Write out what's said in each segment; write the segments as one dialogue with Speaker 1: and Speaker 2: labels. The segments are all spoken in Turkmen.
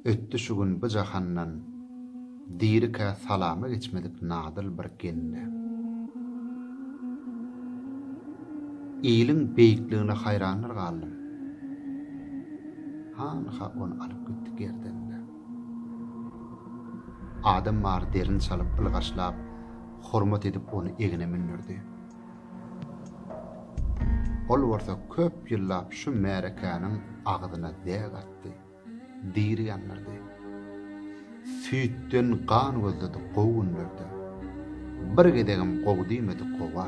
Speaker 1: Ötdi şu gün bu jahandan Dirikä salama geçmedik Nadyl bir gende. Iliň beýikligine haýrandyr galdym. Hanha ony alyp gitdi gerdende. Adam bar derin çalyp ylgaşlap, hormat edip ony egne mündirdi. Ol bolsa köp ýyllap şu märekäniň agzyna däg atdy, diri ýandyrdy. Süýtden gan gözledi gowy günlerde. Bir gezegem gowy diýmedi gowa.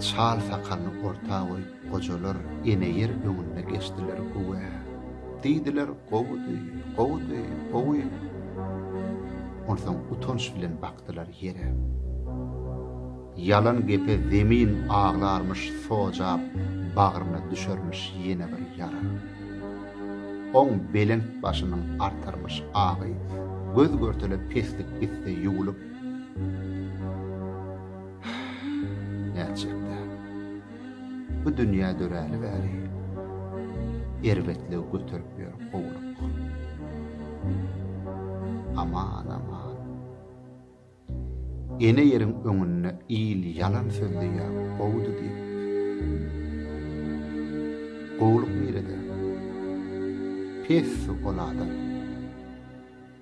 Speaker 1: Çal sakalyny orta goýup. Gojalar ene ýer öňüne geçdiler Güwä! diýdiler, Gowudy, gowudy, gowy! Onsoň utanç bilen bakdylar ýere. Ýalan gepe zemin aglarmyş Sojap bagryna düşermiş ýene bir ýara. Oň belent başynyň artarmyş agy Göz-görtele peslik gitse ýuwlup, Nätjek-dä! Bu dünýä döräli bäri Erbetligi göterip ýör gowluk. Aman, aman. Ene ýeriň öňünde il ýalan sözleýä gowdy diýip. Gowluk nirede? Pessi ol adam.